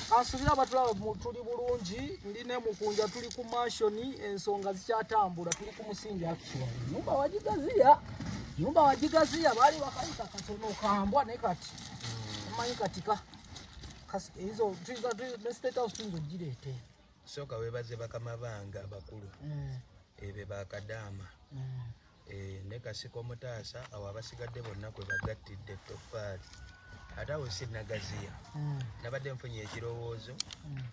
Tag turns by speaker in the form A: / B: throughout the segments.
A: kansubira abatulaba tuli bulungi ndi ne mukunja tuli ku mansioni ensonga zikyatambula tuli ku musingi akiwa nyumba wagigaziya nyumba wagigaziya baali bakayita katono kambwa ne kati omanyi kati ka ezo ne state house tuyinza ogireete sooka webaze
B: bakama bange abakulu mm. ebe bakadaama mm. Eh, ne kasiko mutaasa awo abasigadde bonna kwe bagattidde ettoffaali ate awo si nagaziya hmm. nabadde nfunye ekirowoozo hmm.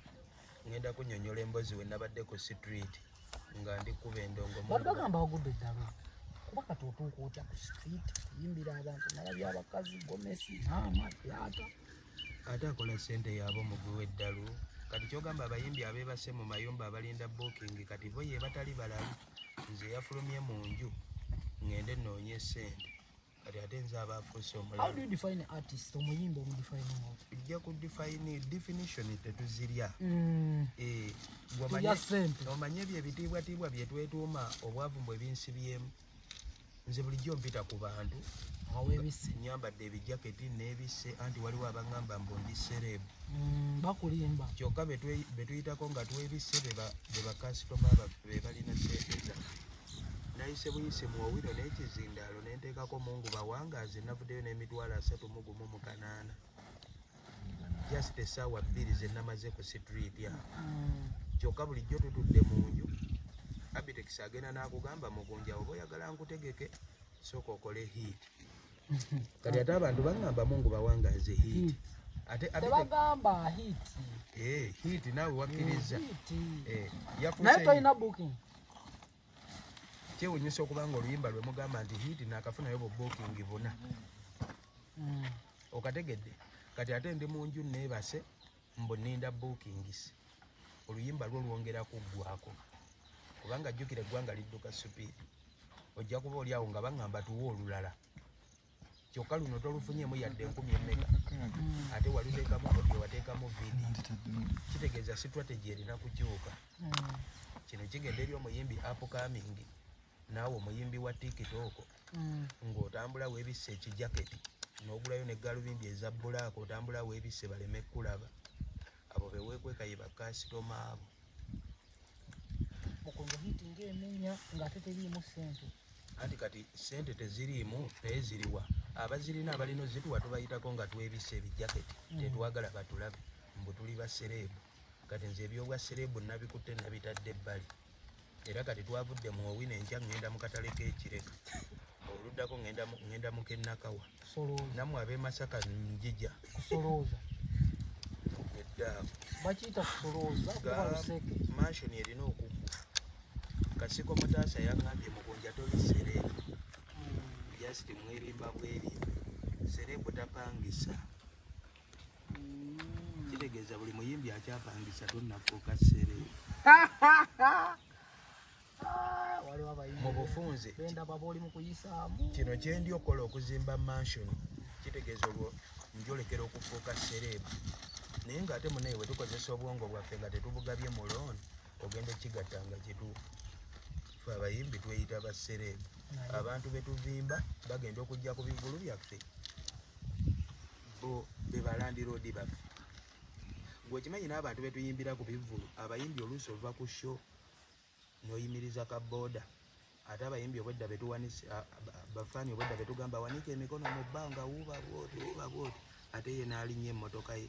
B: ngenda kunyonyola embozi we nabadde ku street nga ndi kuba endongobagamba wagudde ddala
A: kuba kati otuuka otya ku street kuyimbira abantu nala byabakazi gomesi maama yata ate
B: akola sente yaabo mugwi w'eddalu kati kyogamba abayimbi abeebase mu mayumba abalinda booking kati bo ye batali balalu nze yafulumye mu nju ngende noonye sente kati ate nze aba afuuse
A: omulaojja ku define
B: definition tetuzirya mm. eh, omanye ebyo ebitiibwatiibwa byetwetuuma obwavu mbwe binsibyemu nze bulijjo mpita ku bantu nyambadde ebijaketi nebise anti waliwo abagamba mbu ndi serebu mm, bakulimba
A: kyokka
B: betuyitako nga twebise bebakasitoma baffe bebalina sente zaffe nayise buyisi mu owino n'ekizindaalo nenteekako mungu bawangazi navuddeyo n'emitwalo asatu mugumu mu kanaana just esaawa bbiri zenamaze ku street a kyokka bulijjo tutudde mu nju abitex agenda n'akugamba mugunja oba oyagala nkutegeke sooka okole hiit kati ate abantu baŋamba mungu bawangaze hiit atebagamba
A: hiit hiit
B: eh, naawe wakkirizza eh,
A: naye tolina booking kyewunyisa
B: okuba nga oluyimba lwe mugamba nti hiiti naakafunayo bubookingi buna hmm. okategedde kati ate ndi mu nju neebase mbu ninda bookingis oluyimba lwo lwongera kuggwako kubanga jjukira eggwanga lidduka supiidi ojja kuba oli awo nga baŋŋamba tuwa olulala kyokka luno tolufunyemu yadde enkumi emmeka ate waliteekamu audio wateekamu vidi kitegeeza strategy erina kukyuka kino kigenda eri omuyimbi upcoming naawe omuyimbi wa tiktok ng'otambula webisse ekijaketi n'ogulayo ne galubindi eza bulaaka otambula webisse baleme kukulaba Abo bewekweka ye bakasitoma abo.
A: Mukunja hiti nga emenya nga ate teriimu ssente. Anti kati
B: ssente teziriimu naye ziriwa? Abazirina abalina ozituwa tubayitako nga twebisse ebijaketi mm. tetwagala batulabe mbu tuli basereebu. Kati nze ebyobwa sereebu nabikutte nabitadde ebbali. era kati twavudde mu owi nenkya ŋŋenda mu katale k'ekireka oluddako ŋŋenda mu kennakawa nammwe ab'emasaka njija kusolooza eddaawo bakiyita
A: kusolooza mansioni erina okuggwa
B: kasiko mutaasa yaŋŋambye mukunja toli sereebu hmm. just mwerimba bwerimba sereebu tapangisa kitegeeza buli muyimbi akyapangisa tonafuuka sere mu bufunze kino kyendi okukola okuzimba mansion kitegeeza olwo njolekera okufuuka sereebu naye ngaate munaye wetukozesa obwongo bwaffe nga tetubugabye mu looni ogenda ekigatta nga kitu fe abayimbi tweyita basereebu abantu betuvimba bagenda okujja ku bivulu byaffe bo bebalandiroodi baffe gwekimanyi n'abantu betuyimbira ku bivulu abayimbi oluusi oluva ku sho noyimiriza ka boda ate abayimbi obwedda betuwanise bafaani obwedda betugamba wanika emikono mu bbanga wuuba bwoti wuuba bwoti ate ye naalinya emmotoka ye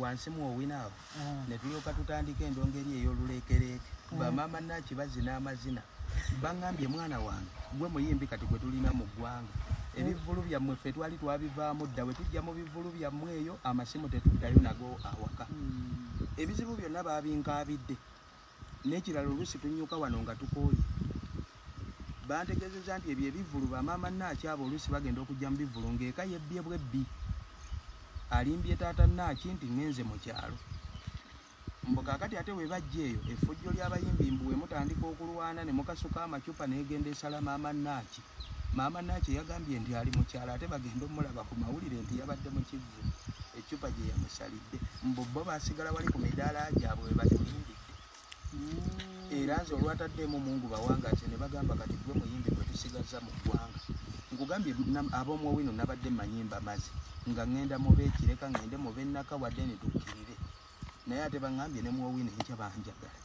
B: wansi mu owina awo mm. ne tulyoka tutandika endongo eri ey'oluleekereeke mm. bamaama naaki bazina amazina baŋambye mwana wange gwe muyimbi kati gwe tulina mu ggwanga mm. ebivvulu byammwe ffe twali twabivaamu dda bwe tujja mu bivvulu byammwe eyo amasimu tetuddayo nago awaka ebizibu byonna babinkaabidde N'ekirala oluusi tunnyuka wano nga tukooye. Bantegeezezza nti ebyo ebivvulu bamaama Naaki abo oluusi bagenda okujja mu bivvulu ng'eka yebbye bwebbi. Alimbye taata Naaki nti ŋŋenze mu kyalo. Mbu kaakati ate bwe bajja eyo, effujjo ly'abayimbi mbu we mutandika okulwana ne mukasuka amacupa n'egenda esala maama Naaki. Maama Naakye yagambye nti ali mu kyalo ate bagenda omulaba ku mawulire nti yabadde mu kivvu eccupa gye yamusalidde mbu bo basigala wali ku midaala gyabwe we batulimbidde mm. era nze olwataddeemu mungu bawangaze ne bagamba kati gwe muyimbi gwe tusigazza mu ggwanga nkugambye ab'omuwowino nabadde manyimba mazi nga ŋŋenda mu beekireka ŋŋende mu bennaka wadde ne tukkirire naye ate baŋambye ne muwowino enkya banjagala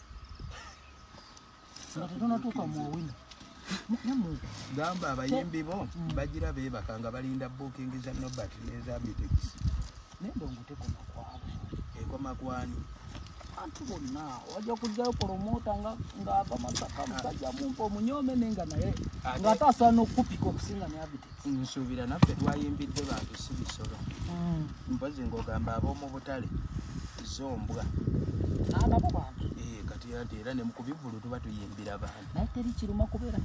B: gamba abayimbi bo bagira bebaka nga balinda booking za nobert neza bitex
A: ekoma kwani
B: bantu
A: bonna wajja kujjayo promota ng'ava masaka musajja mumpa omunyome nenga naye ng'ate asaana okukupika okusinga ne abitex nsuubira naffe
B: twayimbidde bantu si bisolo hmm. mpozi ngaogamba ab'omu butale zombwa
A: ababo bantu eh, kati ate era
B: nemukubivulu tuba tuyimbira bantu naye teri kiruma kubeera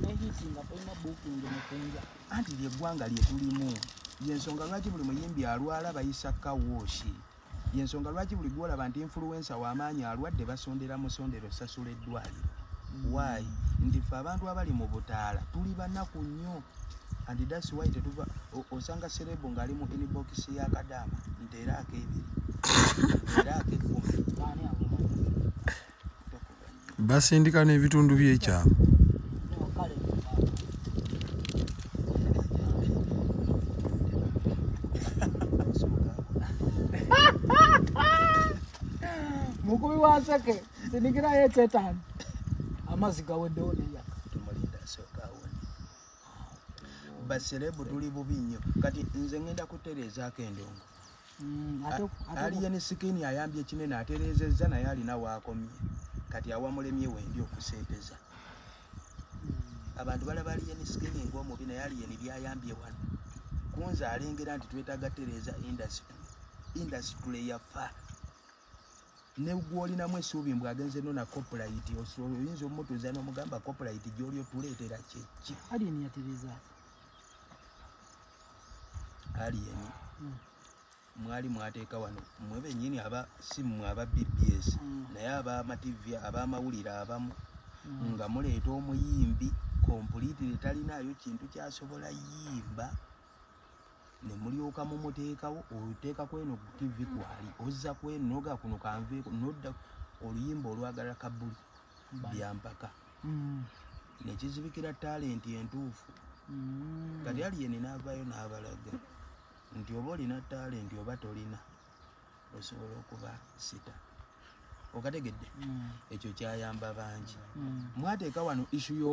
A: nehiti nga tolina bukingi mukunja anti lyeggwanga
B: lyetulimu yensonga lwaki buli muyimbi alwala bayisa kawooshi Yensonga lwaki buli gwolaba nti influencer wamaanyi alwadde basondera musondero osasula eddwaliro. Why? Nti ffe abantu abali mu butaala tuli banaku nnyo and that's why tetuva osanga serebu ng'ali mu inbox ya kadaama nti era akeebiri era akekkumi
C: basindika n'ebitundu byekyama
A: mukubi waseke sindikirayo ekyetaano amazzi gaweddewo neyaka
B: baserebu tuli bubi nnyo kati nze ngenda kutereezaako endongo Mm, aliye ne sikini ayambye kinene atereezezza naye alina waakomye kati awamulemye wendi okuseeteza mm. abantu balaba aliye ne sikini ngaomubi naye aliye ne byayambye wano kunze alengera nti twetaaga tereeza indasitule indasitule yafa ne gwolinamu esuubi mbu agenze nona coplayiti oyinza omutuuza nomugamba coplayiti gyoli otuleetera kyeki alien hmm. mwali mwateeka wano mwe benyini aba simu aba bbs hmm. naye abamativi abamawulire abamu hmm. nga muleeta omuyimbi kompulitire talinayo kintu kyasobola yimba nemulyoka mumuteekawo oteeka kweno tivi kwali ozza kwenoga kuno kanveeko nodda oluyimba olwagala kabuli byampaka mm. ne kizibikira talenti entuufu mm. kati aliyeni n'avaayo n'abalaga nti oba olina talenti oba tolina osobola okuba sita okategedde mm. ekyo kyayamba bangi mwateeka wano issu yo